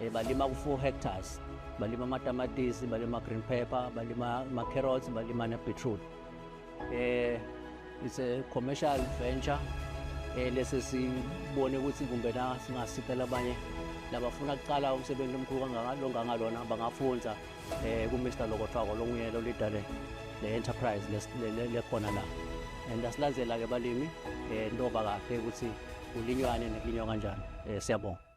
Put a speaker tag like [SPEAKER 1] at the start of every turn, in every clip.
[SPEAKER 1] Eh, balima ku-four hectares balima amatamatisi balima green pepper balima ama-carrots balima ne-beetroot um eh, it's a commercial venture um lesi sibone ukuthi kumbe na singasicela abanye labafuna kuqala umsebenzi omkhulu longangalona bangafunza um kumr lokothwako longuye lolidale le-enterprise lekhona la and asilandzela-ke balimi um ntoba kahle ukuthi kulinywani nekulinywa kanjani um siyabonga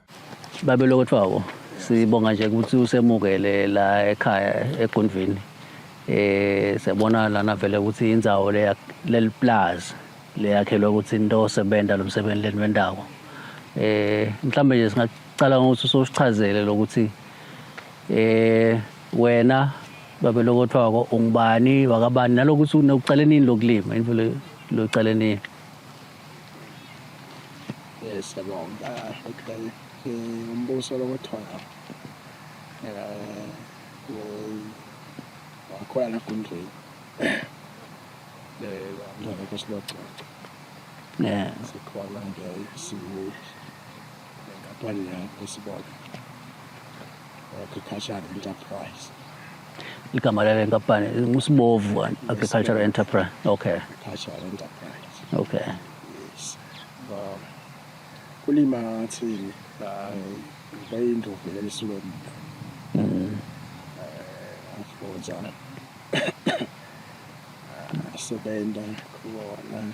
[SPEAKER 1] babelokhu kuthiwa wo sibonga nje ukuthi usemukele la ekhaya egunvini eh siyabona lana vele ukuthi indzawo le leliplaza leyakhelwe ukuthi into osebenza lo msebenzi leni wendawo eh mhlawumbe nje singacala ngokuthi usosichazele lokuthi eh wena babelokhu kuthiwa ko ungubani wakabani nalokuthi ucale nini lokulima imvelo locale nini
[SPEAKER 2] Yes, siyabonga. Okay. Eh, umbuso lokuthola. Eh, wakhona nagundlweni. Eh, ngeke silococa. Yeah. Sikhona nje sibuye. nenkampani yakho sibona agricultural enterprise igama
[SPEAKER 1] lale nkampani ngusibovu agricultural enterprise okay agricultural
[SPEAKER 2] enterprise okay
[SPEAKER 1] yes
[SPEAKER 2] um, kulima ngathini bayindovelela isilomda afuza asebenza khona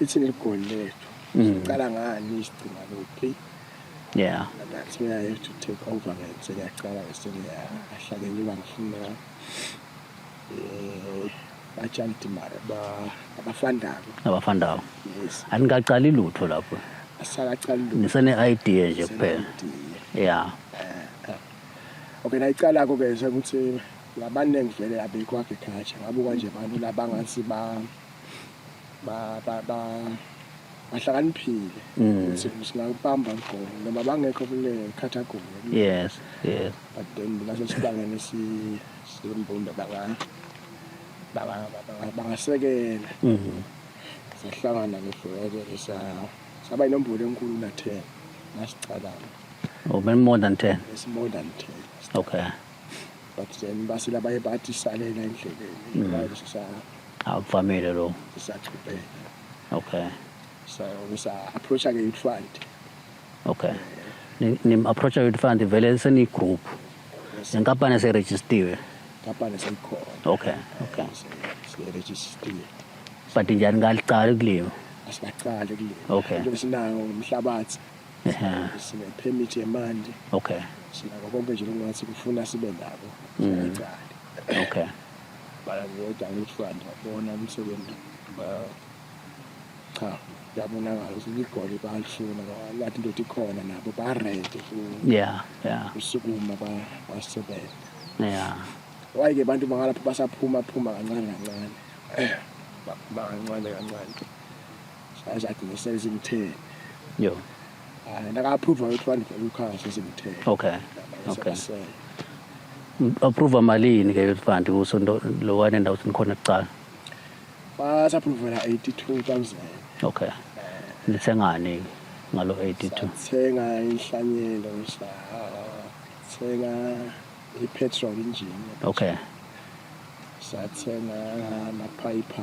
[SPEAKER 2] ithi ligoli lethu siqala ngani isigcina kuphi yeah that's where i have to take over ngayo sengiyaqala ngesengiyahlale ngiba ngifuna um batshanti mara abafandako abafandako
[SPEAKER 1] yes aningaqali
[SPEAKER 2] lutho
[SPEAKER 1] lapho asakaqali lutho
[SPEAKER 2] nisene-idea nje
[SPEAKER 1] kuphela ya
[SPEAKER 2] okay nayiqala-ko ke sekuthi labaningi vele abekho agriculture ngabuka nje abantu labangathi ba bahlakaniphile mm. ukuthi singakubamba mgomo noma bangekho kule category yes yes
[SPEAKER 1] but then
[SPEAKER 2] laso sibangene simbumbe bangana bangasekela mm-hmm. sahlangana ngefoweke saba inombolo enkulu na-ten nasicalana oh,
[SPEAKER 1] more than ten it's more than ten
[SPEAKER 2] okay
[SPEAKER 1] but
[SPEAKER 2] then basile abaye bathi salela endleleni mm. Akuvamile
[SPEAKER 1] lo.
[SPEAKER 2] Sisachubeka.
[SPEAKER 1] Okay. So
[SPEAKER 2] ngisa approach ke youth fund. Okay.
[SPEAKER 1] Ni, ni approach youth fund vele seni group. Yes. Inkampani se registered. Inkampani
[SPEAKER 2] seyikhona. Okay.
[SPEAKER 1] Okay. Se
[SPEAKER 2] registered.
[SPEAKER 1] But njani ngaliqala kulima? Asibaqali kulima.
[SPEAKER 2] Okay. Njengoba sinayo umhlabathi. Yeah. Sine permit yemanje. Okay. Sinako
[SPEAKER 1] konke nje
[SPEAKER 2] lokungathi kufuna sibe nabo. Mm. Okay. bayavota ngesibani babona umsebenzi cha kuyabonakala ukuthi ligoli balifuna lathi into ikhona nabo barede ya ya usukuma basebenza ya wayike abantu bangalapho basaphuma phuma kancane kancane baphuma kancane kancane sazathi ngisezimtheni yo and ah, aka-approve ukuthi wandifela ukukhala sesikuthele okay
[SPEAKER 1] okay approve malini ke youth fund kuso lo wane ndawo sinikhona kuqala
[SPEAKER 2] basaphuvela 82000 okay
[SPEAKER 1] nithengani ngalo 82 thenga
[SPEAKER 2] inhlanyelo thenga i-petrol engine okay sathenga amaphayiphi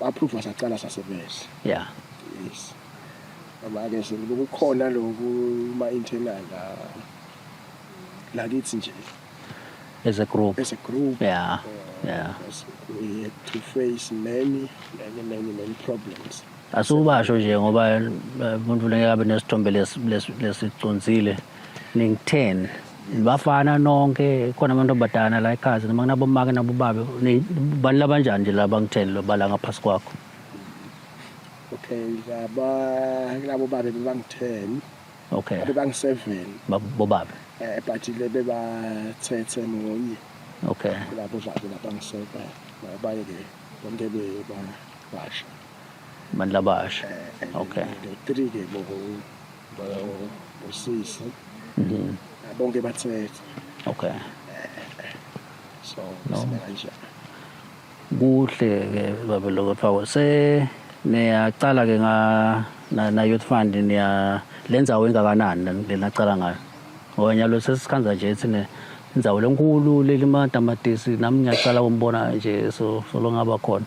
[SPEAKER 2] Baphupha saqala sasebenza. Yeah.
[SPEAKER 1] Yes.
[SPEAKER 2] Abake sekukhona lokhu ma internal la. La kithi nje. As a
[SPEAKER 1] group. As a group. Yeah. Yeah.
[SPEAKER 2] We had to face many many many many problems. Asubasho
[SPEAKER 1] nje ngoba eh, umuntu lengeke abe nesithombe lesicunzile. Lesi, lesi ningitheni bafana nonke khona abantu abadana la ekhazi noma kunabomake nabobabe bani labanjani nje laba ngitheni lobala ngaphasi kwakho
[SPEAKER 2] okay laba labo babe bebangitheni okay
[SPEAKER 1] bebangiseven
[SPEAKER 2] bobabe
[SPEAKER 1] eh but le
[SPEAKER 2] bebathethe munye okay
[SPEAKER 1] labo babe
[SPEAKER 2] labangiseka baye ke bonke bebasha abantu
[SPEAKER 1] labasha eh, eh, okay three ke bobo
[SPEAKER 2] usisi mhm. bonke bathethe okay so kanje
[SPEAKER 1] kuhle ke babe lokho phawo se niyaqala ke nga na, na youth fund niya lenza wengakanani lena cala ngayo ngoba nyalo sesikhanza nje thina inzawo lenkulu leli matamatisi nami ngiyaqala umbona nje so solo ngaba khona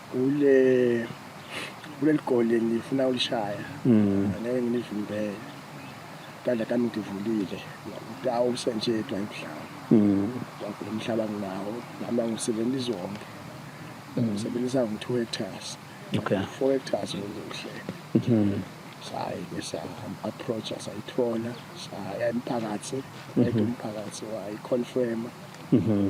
[SPEAKER 2] Kule kuleli goli ngifuna ulishaya. Mm. Ngeke nginivimbele. Kanda kami ngivulile. Ngidwa usenjetwa emhlaba. Mm. Ngidwa umhlaba nginawo. Ngihamba ngisebenza izonke. Mm. Ngisebenzisa ngo-2 hectares. Okay. 4
[SPEAKER 1] hectares
[SPEAKER 2] ngokuhle. Mhm. saye ke sa-approacha sayithola saya emphakathi mhm. umphakathi wayiconfirma mhm.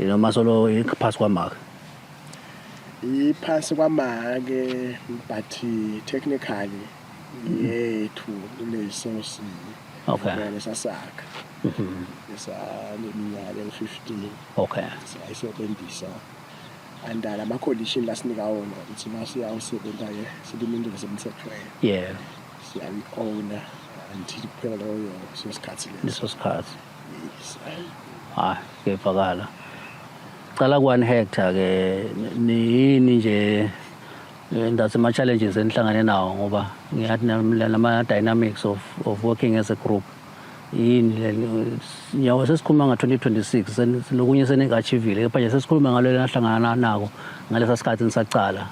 [SPEAKER 1] Noma solo iphasi kwamaka. Iphasi
[SPEAKER 2] kwamake but technically yethu kulesosi. Okay.
[SPEAKER 1] Ngale sasakha.
[SPEAKER 2] Mhm. Esaleminyaka ewu-15. Okay.
[SPEAKER 1] Sayisebenzisa
[SPEAKER 2] andala ama condition la sinika wona ukuthi masiyawusebenza ke silima into esemthethweni. Yeah. Siyayi-owner until kuphela loyo sosikhathi leso. Leso sikhathi. hayi
[SPEAKER 1] kuyevakala cala kwani hector ke niyini nje ndathi ama-challenges enihlangane nawo ngoba ngiyathi nama-dynamics of, of working as a group yini le nyawo sesikhuluma nga-2026 lokunye senengi-achivile kepha nje sesikhuluma ngalo lenahlangana nako ngalesa sikhathi nisacala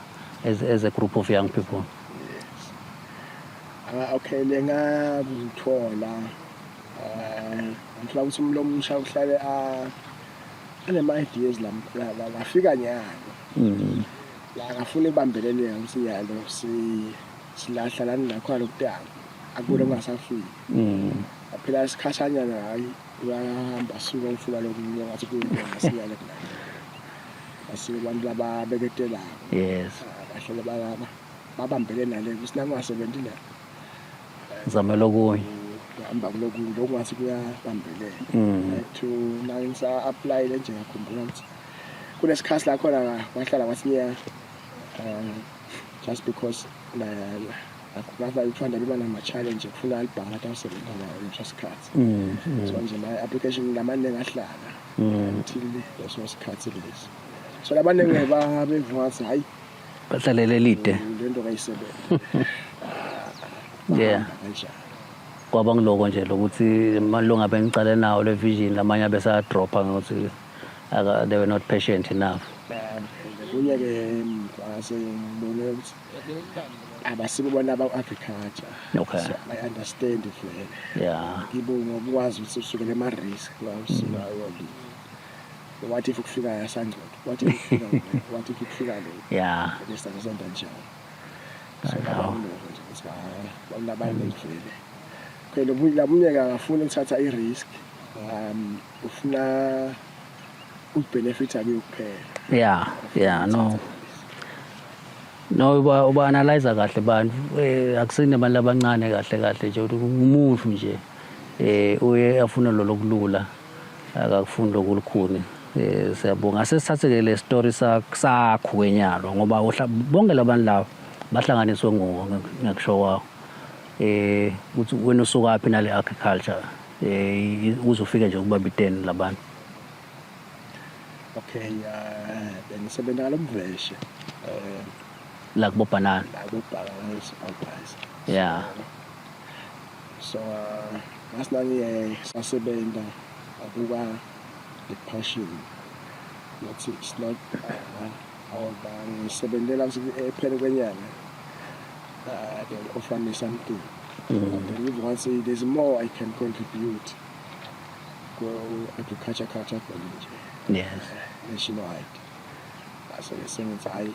[SPEAKER 1] as, as a group of young people
[SPEAKER 2] yes. uh, okay lengakuthola ngifuna ukuthi umuntu omusha uhlale anema-ideas lafika nyalo mm. la ngafuna ibambelele yami ukuthi nyalo silahla lani nakhona lokudala akubona mm. kungasafiki mm. aphela isikhashanyana hayi uyahamba suka ngifuna lokunye ngathi kuyingasiyale kula asike abantu lababeketelayo yes ah,
[SPEAKER 1] bahlele
[SPEAKER 2] balaba babambele nale kusinangasebenzi la
[SPEAKER 1] ngizamela okunye hamba kulokunye
[SPEAKER 2] lokwazi kuyabambelela mm. to manje ngisa-aplayile nje ngakhumbula ukuthi kunesikhathi la khona wahlala kwasinyaka um just because ngathanda liba nama-challenge kufuna alibhanga athi awusebenza nayo leso sikhathi mm, mm. so nje ma-application lamaningi ahlala until leso sikhathi lesi so labaningi bevuma ukuthi hhayi Bahlalela elide.
[SPEAKER 1] Lento kayisebenza.
[SPEAKER 2] Yeah.
[SPEAKER 1] Kanjani? Kwaba ngiloko nje lokuthi malunga bengicale nawo le vision lamanye abesa dropper ngokuthi aka they were not patient enough. Kunye
[SPEAKER 2] ke ngase ngibone ukuthi abasibo bona aba agriculture. Okay. So
[SPEAKER 1] I understand
[SPEAKER 2] vele. Yeah. Ngibo
[SPEAKER 1] ngokwazi
[SPEAKER 2] ukuthi usukele ema risk la usuka yona. what if kufika yasangcodo what if kufika what if kufika lo yeah bese ngizonda
[SPEAKER 1] njalo so baba nje
[SPEAKER 2] ukuthi hayi bawulabantu ngivele phela umuntu labumnyeka akafuni ukuthatha i-risk um ufuna ukubenefitha kuyo kuphela yeah yeah no
[SPEAKER 1] no uba uba analyze kahle bantu eh, akusini abantu abancane kahle kahle nje ukuthi umuntu nje eh uye afuna lolo kulula akakufuni lokhu lukhuni eh, siyabonga ase sithathe ke le story sakho kwenyalo ngoba bonke labantu laba bahlanganiswe nguwo ngiyakusho kwawo eh ukuthi wena usuka phi nale agriculture eh uzofika nje kuba biteni labantu
[SPEAKER 2] okay uh, bengisebenza ngalomveshe eh
[SPEAKER 1] la kubobhanana la kubhanana supervisor yeah
[SPEAKER 2] so ngathi nangiye sasebenza akuka depression not it's not ngoba ngisebenzela ephele kwenyanga uh, they will offer me something mm. I believe once there's more I can contribute ku-agriculture culture college yes nationwide so ngisengithi hhayi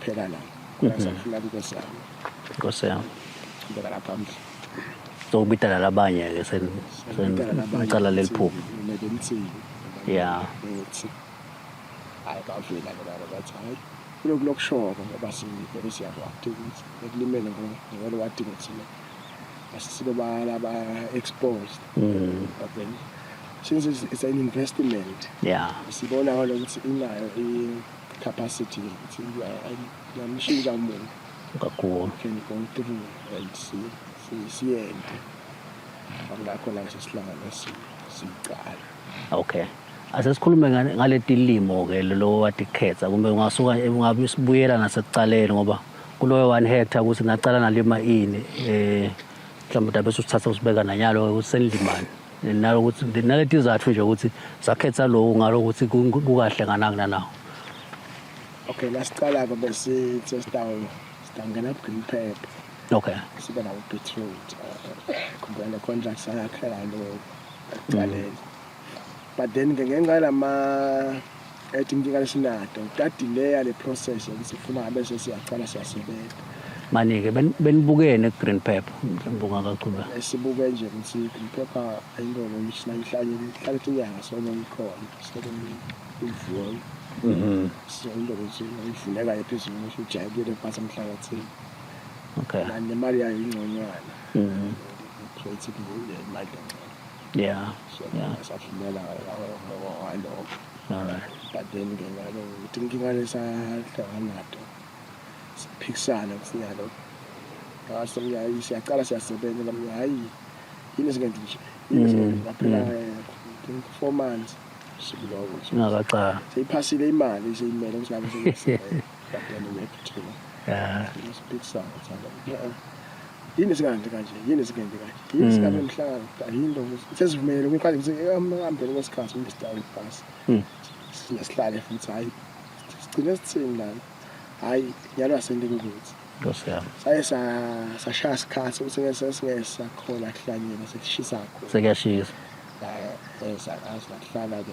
[SPEAKER 2] Phela la. Ngisafuna inkosi yami. Inkosi
[SPEAKER 1] yami. Ngibeka lapha
[SPEAKER 2] mhle. Sokubidala
[SPEAKER 1] labanye ke sen sen icala leliphupho. Ngeke ngithini. Yeah. Uthi
[SPEAKER 2] hayi bavela ke laba bathi hayi kulokhu lokushoko ngoba sibheke siyakwati ukuthi ekulimele ngoba ngeke wati ukuthi asisibe bala ba exposed. Mm. But then since it's, it's an investment. Yeah. Sibona
[SPEAKER 1] ukuthi
[SPEAKER 2] inayo i capacity ukuthi ngiyamshintsha umuntu kakhulu can
[SPEAKER 1] go
[SPEAKER 2] through and see siyende ngakho la sesihlangana siqala okay
[SPEAKER 1] asesikhulume ngale tilimo ke lo watikhetha kumbe ungasuka ungabe usibuyela nasekuqaleni ngoba kuloyo one hectare ukuthi ngaqala nalima ini eh mhlawumbe dabe usuthatha usibeka nanyalo ukuthi senilimani nalokuthi naleti izathu nje ukuthi sakhetha lowo ngalokuthi kukahle nganakuna nawo
[SPEAKER 2] okay la siqala-ke besithi sitawona sitangena ku-green pep okay sibe
[SPEAKER 1] nawo
[SPEAKER 2] beetroot khumbula le contract sayakhela lo ekuqaleni but then-ke ngenxa yalama ethi umntikane sinado kutadileya le process yokuthi sifuna ngabe sesiyacala siyasebenza manike
[SPEAKER 1] benibukene ku-green pepper mbuka kachube esibuke nje ukuthi
[SPEAKER 2] i-green pepper ayilona ngihlale inyanga sona ikhona sekuyivuwa mhm. siyonto ukuthi ivuleka ephezulu ngisho ujayekile phasi emhlabathini okay
[SPEAKER 1] nemali yayo
[SPEAKER 2] ingconywana mhm. so ithi imali
[SPEAKER 1] Yeah. so Yeah.
[SPEAKER 2] ngasavumela
[SPEAKER 1] ngaloko All
[SPEAKER 2] right. but
[SPEAKER 1] then ke ngalo
[SPEAKER 2] ukuthi inkinga lesahlangana nato siphikisana kufika lo ngaso ngiyayi siyaqala siyasebenza la mina hayi yini esingenza nje yini esingenza nje ngaphela eh, four months sikuloko nje Ngakaxaka.
[SPEAKER 1] seyiphasile imali
[SPEAKER 2] seyimele ukuthi ngabe seyisebenza But then we have to chill. Yeah. It's
[SPEAKER 1] a big
[SPEAKER 2] sound. Yeah. yini sikanje kanje yini sikenze kanje yini mm. sikanje mhlanga yini lo sesivumele umqale ukuthi ehambeni kwesikhathi umuntu sidawu ibhasi mm. sinesihlale futhi hayi sigcine sithini lana hayi yalwa sendingukuthi saye sashaya sikhathi ukuthi sesingesa khona kuhlanyela sekushisa khona sekuyashisa
[SPEAKER 1] eh, eh, sakazi
[SPEAKER 2] lakuhlala ke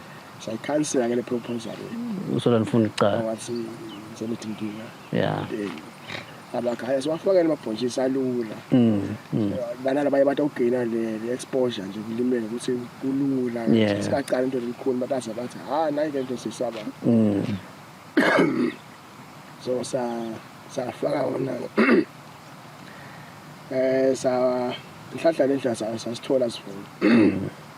[SPEAKER 2] sayikhansela ke le proposal usola nifuna
[SPEAKER 1] icala wathi ngizoletha
[SPEAKER 2] inkinga
[SPEAKER 1] yeah
[SPEAKER 2] abakhaya siwafakele amabhontshisi alula mm, mm. banala baye bathi awugeyina le exposure nje kulimele ukuthi kulula sikaqala into elikhulu bataza bathi ha nayi ke nto sisaba mm. so sa safaka wona eh sa nhlahla lendla sasithola sifuna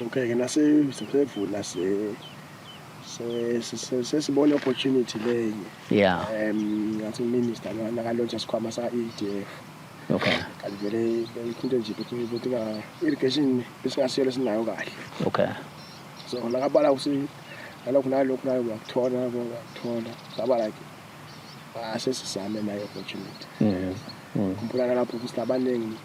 [SPEAKER 1] Okay
[SPEAKER 2] ke nase sesevula se sesibona opportunity leyo yeah um
[SPEAKER 1] ngathi
[SPEAKER 2] minister nakalontsha sikhwama sa EDF okay
[SPEAKER 1] kanti vele
[SPEAKER 2] into nje ukuthi ukuthi ka irrigation besingasiyela sinayo kahle okay
[SPEAKER 1] so
[SPEAKER 2] nakabala ukuthi nalokho nalokho nayo uyakuthola uyakuthola saba like asesizame ah, nayo opportunity mhm mm. mm. kumbulana lapho ukuthi abaningi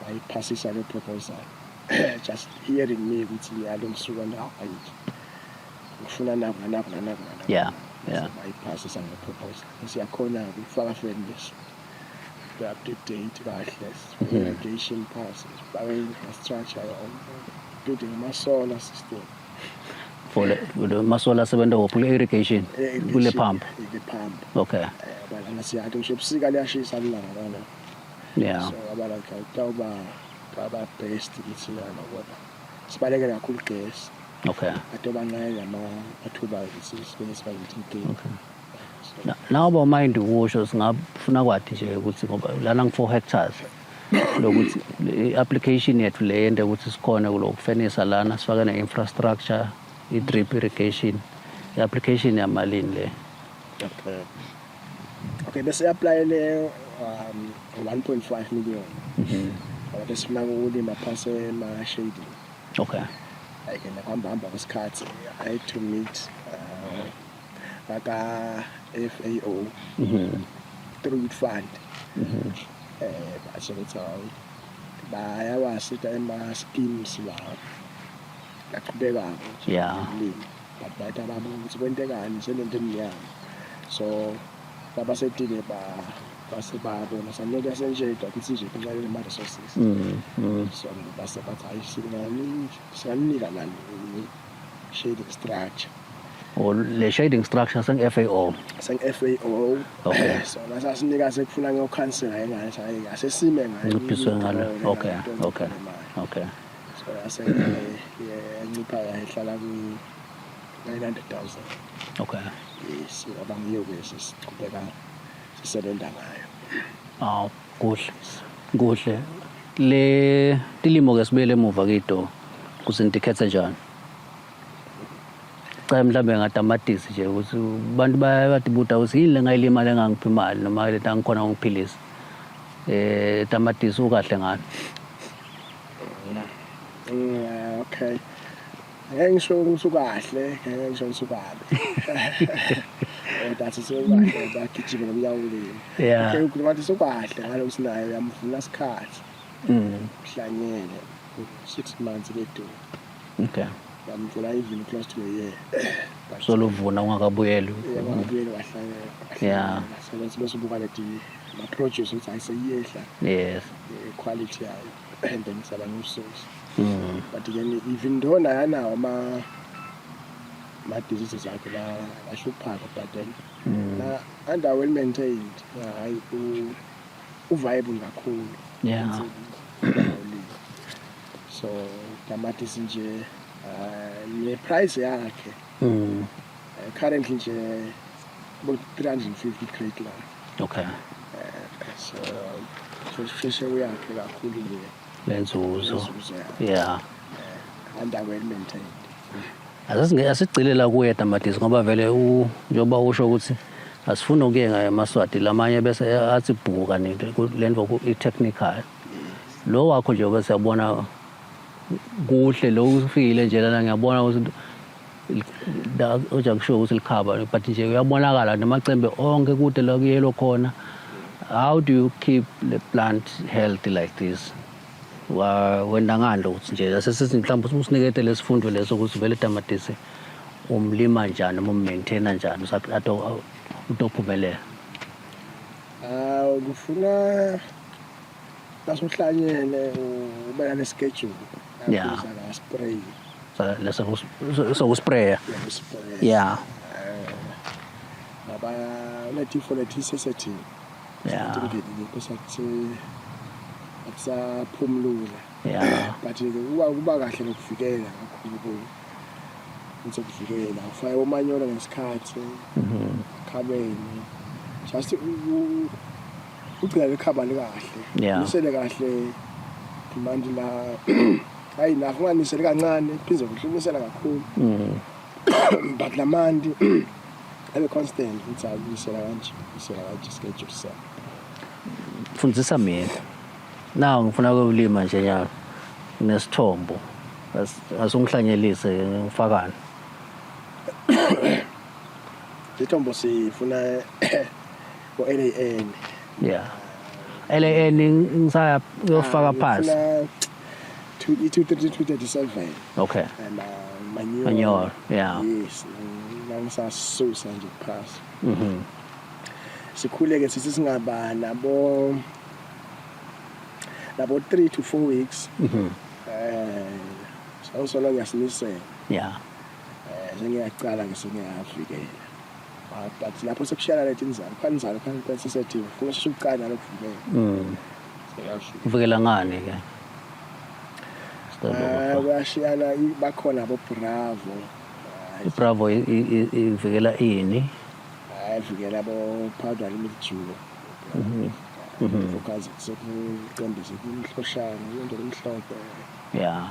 [SPEAKER 2] bayiphasisa le proposal just hearing me ukuthi ngiyalo ngisuka ndawo ayithi ngifuna naku nanaku nanaku nanaku yeah
[SPEAKER 1] yeah bayiphasisa
[SPEAKER 2] le proposal siyakhona ukufaka feni leso up to date kahle irrigation passes bawe infrastructure yonke building ama solar system
[SPEAKER 1] for the masola asebenza wophi irrigation kule pump okay eh, balana siyathi
[SPEAKER 2] ngisho ebusika liyashisa lilanga lana yeah so
[SPEAKER 1] abala ngihlala
[SPEAKER 2] kutawuba baba best kithi lana kodwa sibalekela kakhulu gesi okay ato
[SPEAKER 1] bancane ama
[SPEAKER 2] athuba sisibene sibalekela
[SPEAKER 1] ukuthi okay nawo bawumayindi ukusho singafuna kwathi nje ukuthi ngoba lana ngi-four hectares lokuthi i-application yethu le yente ukuthi sikhone kulokufenisa lana sifake ne-infrastructure i-drip irrigation i-application yamalini le
[SPEAKER 2] okay bese applyele um 1.5 million mhm. ngoba besifuna ukulima phase ema shading okay
[SPEAKER 1] ayike
[SPEAKER 2] nakuhamba hamba kwesikhathi i had to meet uh, baka FAO mhm. through fund mhm. eh basho ukuthi hawu bayawasita ema schemes lawo laqhubekako yeah
[SPEAKER 1] babheda
[SPEAKER 2] bami ukuthi kwentekani selento emnyama so babasetile ba base babona sanike senjeda ukuthi nje kunxa le ma resources mm, mm. so base bathi hayi sinani siyanika nani shading structure or
[SPEAKER 1] oh, le shading structure seng FAO seng FAO
[SPEAKER 2] okay so
[SPEAKER 1] lasa sinika
[SPEAKER 2] sekufuna ngokhansela yena hayi asesime ngayo ngiphiswe ngalo okay okay
[SPEAKER 1] okay
[SPEAKER 2] so yase yancipha yahlala ku 900,000 okay
[SPEAKER 1] yes
[SPEAKER 2] abangiyo ke siqhubeka sisebenza ngayo aw kuhle
[SPEAKER 1] kuhle le tilimo ke sibuyele emuva kido kusinti khethe njani cha mhlawumbe ngatamatisi nje ukuthi abantu bayatibuta ukuthi yini le ngayilima le ngangiphi imali noma le tangikhona ngiphilisa eh tamatisi ukahle ngani
[SPEAKER 2] Yeah, okay. Ngeke ngisho ukuthi ukahle, ngeke ngisho ukuthi ukabi. Eh but sewukahle bagijima ngomnyawulini. Yeah. Okay, ukhuluma ukuthi
[SPEAKER 1] sewukahle
[SPEAKER 2] ngalo sinayo uyamvuna isikhathi. Mm. Uhlanyele 6 months ledu. Okay.
[SPEAKER 1] Yamvula
[SPEAKER 2] even close to a year. Soluvuna
[SPEAKER 1] ungakabuyeli. Yebo, ngibuyele
[SPEAKER 2] wahlanyela. Yeah. So
[SPEAKER 1] let's bese ubuka
[SPEAKER 2] le TV. ma-produce ukuthi hayi seyiyehla yes
[SPEAKER 1] eh, quality
[SPEAKER 2] yayo and then saba new source mm. but then even though naye anawo ama ma-diseases akhe la- ahluphaka but then Mm. na under well maintained hayi u- uviable kakhulu Yeah. Insimbi,
[SPEAKER 1] ujabulile.
[SPEAKER 2] so tamatisi nje uh, ne-price yakhe Mm. uh, currently nje about 350 crate la okay eh, so so sisheshe uyakhe kakhulu nje lenzuzo
[SPEAKER 1] yeah eh, and
[SPEAKER 2] well maintained
[SPEAKER 1] asigcile la kuye tamatisi ngoba vele njengoba usho ukuthi asifuni ukuye ngayo emaswati lamanye bese athi bhuka nento le nto i-technical lo wakho nje bese yabona kuhle lo ufikile nje lana ngiyabona ukuthi la oja kusho ukuthi likhaba but nje uyabonakala namacembe onke kude la kuyelo khona how do you keep the plant healthy like this Wa- wenda ngani lo ukuthi nje sesithi mhlawumbe usinikete lesifundo leso ukuthi vele tamatisi umlima njani noma ummaintaina njani usa- ato- utophumelela Ah,
[SPEAKER 2] kufuna Basuhlanyele ubeka neschedule. Yeah. Spray.
[SPEAKER 1] sokuspraya ya
[SPEAKER 2] baba unetifo letisesetini akusaphumlula
[SPEAKER 1] but kuba kuba
[SPEAKER 2] kahle nokuvikela kakhulu ukuthi kuvikela ufake umanyolo ngesikhathi mhm. khabeni just ugcina likhabali kahle Yeah. nisele kahle manje la hayi nakho unganisele kancane phinde kuhle unisela kakhulu Mm. but la mandi abe constant ukuthi hayi unisela kanje unisela kanje schedule sa
[SPEAKER 1] fundisa mina naw ngifuna ukulima nje nyaka nesithombo As- asungihlanyelise ngifakani
[SPEAKER 2] lethombo sifuna Ko
[SPEAKER 1] LAN. Yeah. LAN ngisaya uyofaka phansi. to it to 37
[SPEAKER 2] okay and
[SPEAKER 1] uh,
[SPEAKER 2] manure manure
[SPEAKER 1] yeah yes
[SPEAKER 2] ngisasusa nje phasi mhm sikhule ke sithi singaba nabo nabo 3 to 4 weeks mhm eh sawusolo ngiyasinisela yeah
[SPEAKER 1] eh
[SPEAKER 2] sengiyaqala ngisengiyafika Ah, but lapho sekushiyana lethi inzalo khani inzalo khani kwenza isethiwe kuba sheshe ucane nalo kuvumela Mm. seyasho
[SPEAKER 1] Uvikela ngani ke? Sicela Ah, ukufa.
[SPEAKER 2] kuyashiyana i- bakhona abo bravo Hayi, Bravo
[SPEAKER 1] i- i- i- ivikela ini? hayi vikela
[SPEAKER 2] abo powder limit julo focus sekuqondise kumhloshana into emhlophe Yeah.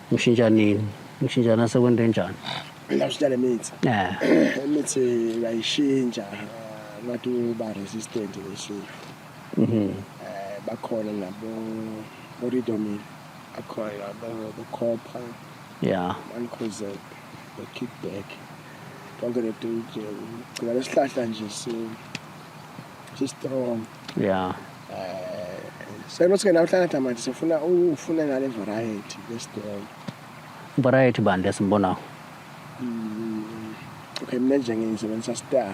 [SPEAKER 1] Ngishintsha nini? Ngishintsha nasekwento enjani? Ngashintsha le
[SPEAKER 2] mithi. Yeah. Imithi ngayishintsha ngathi uba resistant ngishiya. Mhm. Eh bakhona nabo Oridomil akhona nabo Bocopha Yeah. Mancozeb no Kickback. Konke le DJ ugcina lesihlahla nje si si strong. yeah eh senothi ke namhlanje tamanje sifuna ufune ngale variety yesidolo variety
[SPEAKER 1] bani lesimbonayo mm,
[SPEAKER 2] okay mina nje ngisebenzisa star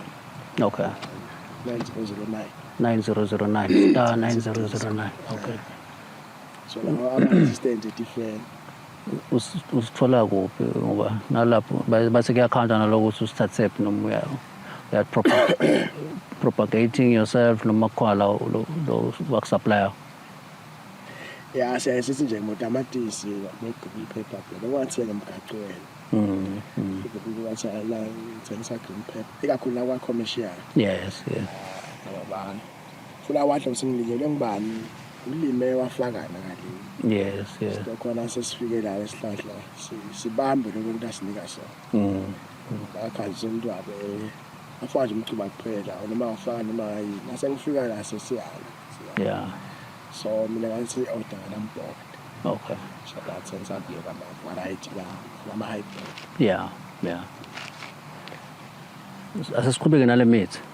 [SPEAKER 2] okay
[SPEAKER 1] 9009 9009
[SPEAKER 2] star
[SPEAKER 1] 9009 okay so
[SPEAKER 2] lawa ama-assistant different
[SPEAKER 1] usithola kuphi ngoba nalapho bathi kuyakhanda naloko ukuthi usithathephi noma uyayo that propagating yourself noma khona lo wakusupplya ya
[SPEAKER 2] siyaye sithi nje ngotamatisi begqoka iphepha phela okwathi yena mgacu wena mm, mm. wathi la ngithengisa green pepper ikakhulu la kwa-commercial yes yes funa wadla usingilinyelwe ngubani ulime wafakana kalini yes yes khona sesifike la esihlahla sibambe lokho ukuthi asinika sona mm akhazi umuntu wabe afaka nje umcuba kuphela noma afaka noma yini nasengifika la sesiyala yeah so mina ngathi order ngambhoko Okay.
[SPEAKER 1] So that's sense
[SPEAKER 2] I'd be a variety la lama hybrid. Yeah, yeah.
[SPEAKER 1] Asesiqhubeke nale mithi.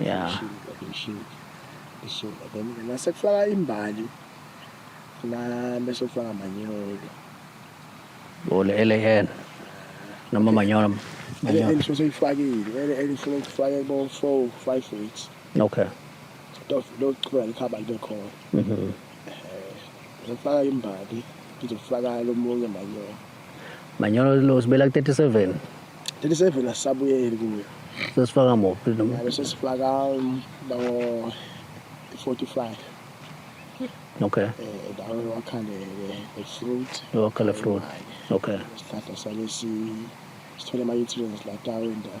[SPEAKER 1] Yeah. Ishintsha
[SPEAKER 2] then nase kufaka imbali na bese kufaka manyolo.
[SPEAKER 1] Bole ele yena. Noma manyolo. Manyolo. Ele ngisho
[SPEAKER 2] seyifakile. Ele ele ngisho kufake bo 4 5 weeks. Okay.
[SPEAKER 1] Dof lo
[SPEAKER 2] chwa likhaba libe khona. Mhm. ngizofaka imbali ngizofaka lomunye manyolo
[SPEAKER 1] manyolo lo sibela ku-37 37 asisabuyeli
[SPEAKER 2] kuyo sesifaka muphi
[SPEAKER 1] ngabe sesifaka
[SPEAKER 2] bawo
[SPEAKER 1] 45 okay eh dawo
[SPEAKER 2] wakhale le fruit wakhale fruit
[SPEAKER 1] okay isihlahla
[SPEAKER 2] salesi sithole ama nutrients la dawo indawo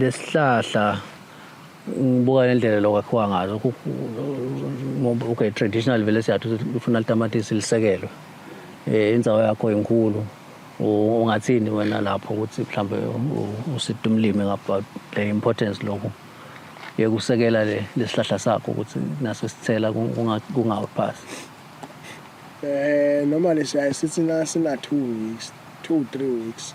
[SPEAKER 1] lesihlahla ngibuka nendlela lokwakhiwa ngazo okay traditional vele siyathu ufuna litamatisi lisekelwe um eh, inzawo yakho inkulu ungathini wena lapho ukuthi mhlawumbe uside umlimi ngaba le importance lokhu yekusekela le lesihlahla sakho ukuthi naso sithela kungaphasi eh
[SPEAKER 2] normally siyaye sithi na sina 2 weeks 2 3 weeks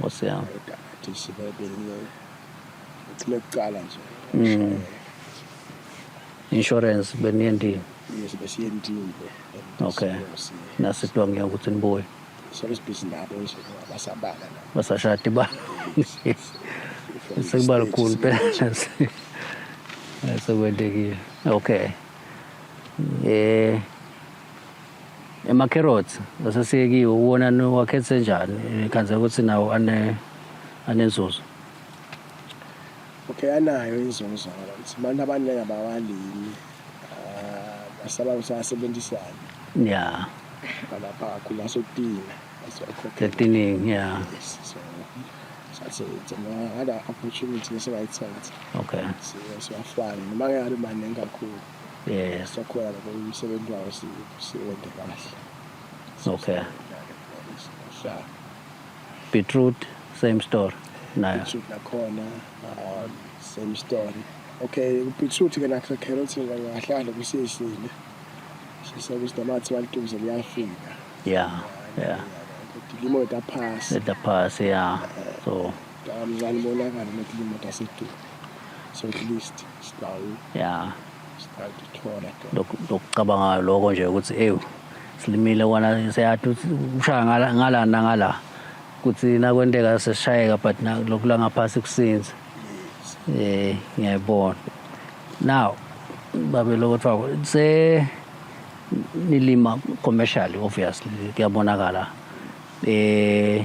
[SPEAKER 2] Nkosi yami.
[SPEAKER 1] Udadisi
[SPEAKER 2] bebinyo. Uthule kuqala nje. Mm.
[SPEAKER 1] Insurance beniye ndini. Yes, besiye ndini. Okay. Nasitwa
[SPEAKER 2] ngiya ukuthi
[SPEAKER 1] nibuye.
[SPEAKER 2] Service busy nabo nje basabala la. Basashadi ba.
[SPEAKER 1] Sekuba lukhulu phela. Sekwendekile. Okay. Eh Emakherothi asesiyekiwe uwona niwakhethe njani nikhandzela ukuthi nawo ane anenzuzo.
[SPEAKER 2] Okay anayo inzuzo ngokuthi abantu abaningi abawalimi ah, basaba ukuthi asebenzisane Yeah,
[SPEAKER 1] balapha
[SPEAKER 2] kakhulu asokutina asiwakhokhela ekutinini
[SPEAKER 1] yeah.
[SPEAKER 2] yes so sathi ngada opportunity esingayithatha Okay.
[SPEAKER 1] siwafake
[SPEAKER 2] noma ngeke abe maningi kakhulu Yeah. Sakhona
[SPEAKER 1] lapho
[SPEAKER 2] umsebenzi wawo siwende kahle. Okay.
[SPEAKER 1] Sha. Beetroot same story nayo. Beetroot nakhona
[SPEAKER 2] um, same story. Okay, beetroot ke nakho carrots ngahlala kusishile. Sisebe sitamathi walituze liyafika. Yeah.
[SPEAKER 1] Yeah. Dilimo
[SPEAKER 2] etaphasi. Etaphasi yeah.
[SPEAKER 1] So
[SPEAKER 2] Mncane
[SPEAKER 1] bonakala
[SPEAKER 2] ukuthi imoto asethu. So at least sidawu. Yeah.
[SPEAKER 1] Sidathola. Lokucabanga lokho nje ukuthi ewu silimile kona siyathi ushaya ngala ngala ngala. Kuthi nakwenteka seshayeka but lokhu la ngaphasi kusinza. Eh ngiyayibona. Now babe lokho kuthiwa se nilima commercially obviously kuyabonakala eh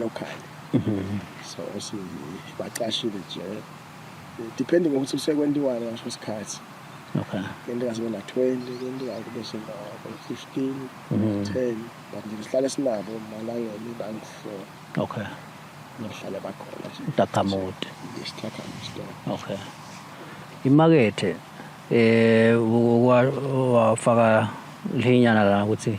[SPEAKER 2] local so sibacashile nje depending ngokuthi usekwentiwani ngasho isikhathi okay
[SPEAKER 1] into kaze bona
[SPEAKER 2] 20 into kaze kube sona 15 10 but nje sihlale sinabo malangeni bangu 4 okay
[SPEAKER 1] ngihlale
[SPEAKER 2] bakhona Dakamude
[SPEAKER 1] isithakamude okay imakethe eh wafaka linyana la ukuthi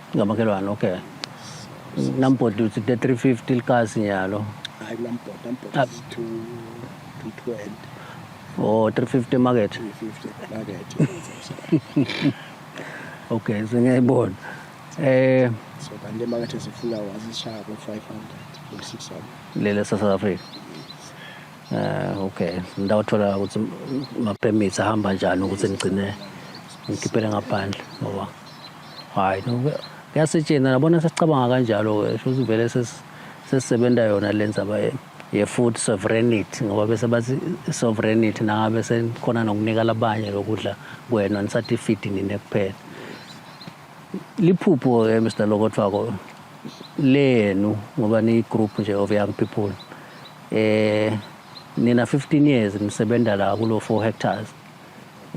[SPEAKER 1] ngamakhelwane okay nambhodla uthi the 350 likasi nyalo hayi
[SPEAKER 2] kulambhoda
[SPEAKER 1] ambhoda is to to 20 oh 350 market 350 market okay sengiyayibona eh
[SPEAKER 2] so kanti emakethe zifuna wazishaya ku 500 ku 600 lele sa South Africa
[SPEAKER 1] eh okay ndawuthola ukuthi ma permits ahamba njani ukuthi ngigcine ngikhiphele ngaphandle ngoba hayi kuyasetshenzwa nabona sesicabanga kanjalo-ke shuthi vele sesisebenza yona le nzaba ye-food sovereignty ngoba bese bathi sovereignty nangabe senikhona nokunika labanye lokudla kwena nisathi ifidi nine kuphela liphupho-ke mr lokothwako lenu ngoba niyi-group nje of young people eh nina 15 years nisebenza la kulo 4 hectares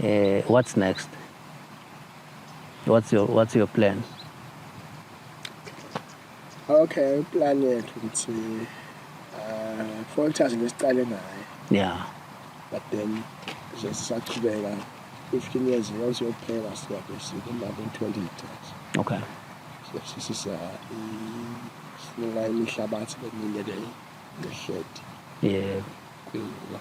[SPEAKER 1] eh what's next What's your what's
[SPEAKER 2] your plan? Okay, plan yethu ukuthi uh Volters ngesiqale naye. Yeah.
[SPEAKER 1] But then
[SPEAKER 2] nje sisaqhubeka 15 years once yokuphela siyabe sikumba ku-20 hectares okay
[SPEAKER 1] sisisa
[SPEAKER 2] sinela imihlabathi eminye leyo ngehledi
[SPEAKER 1] yebo yeah.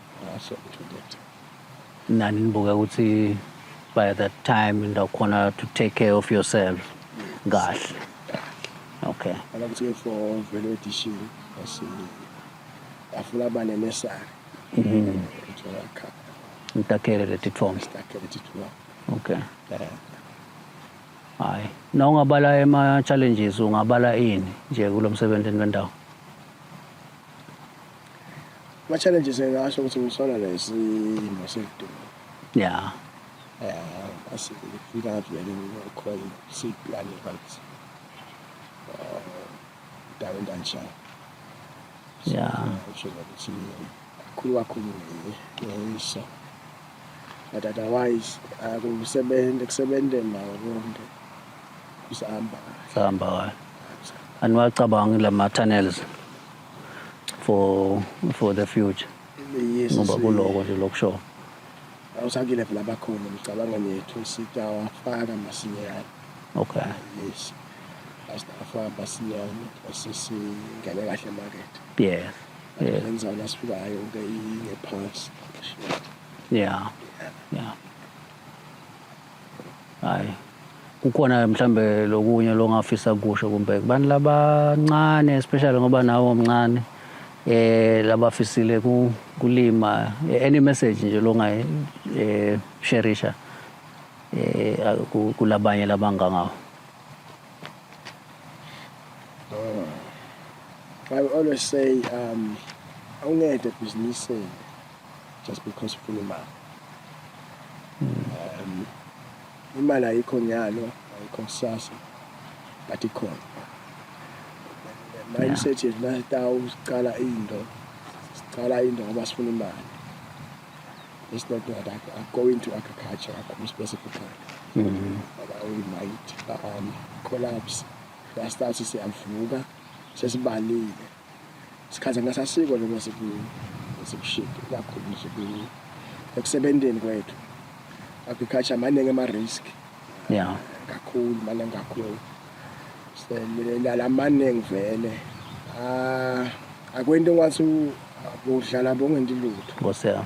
[SPEAKER 2] so nani
[SPEAKER 1] nibuke ukuthi by that time ndawukhona to take care of yourself kahle okay Ala ukuthi ke for
[SPEAKER 2] vele edition asi afuna abane nesari.
[SPEAKER 1] Uthola
[SPEAKER 2] kha. ngitakele leti tfomo Stakele
[SPEAKER 1] tithuwa. okay hayi na ungabala ema-challenges ungabala ini nje kulo msebenzi wendawo
[SPEAKER 2] Ama challenges engasho ukuthi ngisola nesimo sekudumo. Yeah.
[SPEAKER 1] Eh, asifika
[SPEAKER 2] ngavele ngikhona siplane right. Eh, dawe ndanjani.
[SPEAKER 1] Yeah. Usho ukuthi
[SPEAKER 2] khulu kakhulu ngiyisa. But otherwise akusebenze kusebenze nawo konke. Usahamba. Sahamba.
[SPEAKER 1] Aniwacabangi lama tunnels. for for the future Yes, ngoba si-
[SPEAKER 2] kuloko nje
[SPEAKER 1] lokushola awusakile
[SPEAKER 2] phela bakhona ngicabanga nethu sitawafaka masinyane okay
[SPEAKER 1] yes
[SPEAKER 2] asitawafaka masinyane sesingene kahle emakethe yes
[SPEAKER 1] yes yenza wona sifikayo
[SPEAKER 2] ke ingephansi yeah
[SPEAKER 1] yeah hayi kukhona mhlambe lokunye longafisa kusho kumbe kubantu labancane especially ngoba nawo mncane eh labafisile kulima eh, any message nje longayi eh sharisha eh kulabanye labangangawo
[SPEAKER 2] oh. I always say um awungede ebhizinisini just because ufuna imali um imali ayikho nyalo ayikho kusasa but ikhona mindset yethu nasitawu siqala into siqala into ngoba sifuna imali it's not that I, I go into agriculture kakhulu specifically mm-hmm. but I will might um, collapse siyastart siyavuka sesibalile sikhathana sasiko noma sikushidi kakhulu nje ekusebenteni kwethu agriculture maningi ama-risk ya
[SPEAKER 1] kakhulu
[SPEAKER 2] maningi kakhulu selala maningi vele ah, akwento ngathi udlala bongenti lutho nkosi yami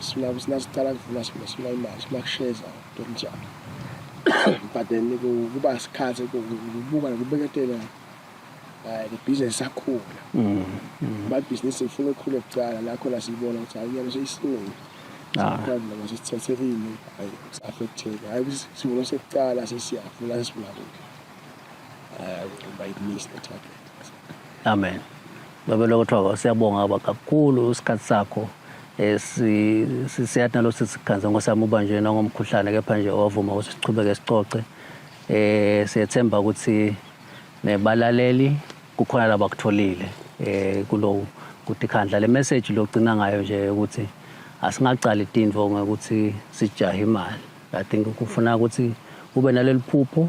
[SPEAKER 2] sila sila sicala kuvula sila sila imali sila kusheza ntomjana but then kuba isikhathi kubuka nokubeketela eh, the business sakhula mm, mm. my business ifuna ukukhule kucala la khona sibona ukuthi hayi nyalo seyisilungu sakhandla ah. masisithathekile hayi affecteka hayi sivuno sekucala sesiyavula sesivula kude um by the mist attack Amen.
[SPEAKER 1] Baba lokuthiwa siyabonga baba kakhulu isikhathi sakho eh, siyathi nalo sisikhanze ngosami uba nje nangomkhuhlane kepha nje wavuma ukuthi siqhubeke sicoce eh siyethemba ukuthi nebalaleli kukhona labakutholile eh kulowo ukuthi khandla le message logcina ngayo nje ukuthi asingaqali tindvo ngokuthi sijahe imali i think kufuna ukuthi ube naleli phupho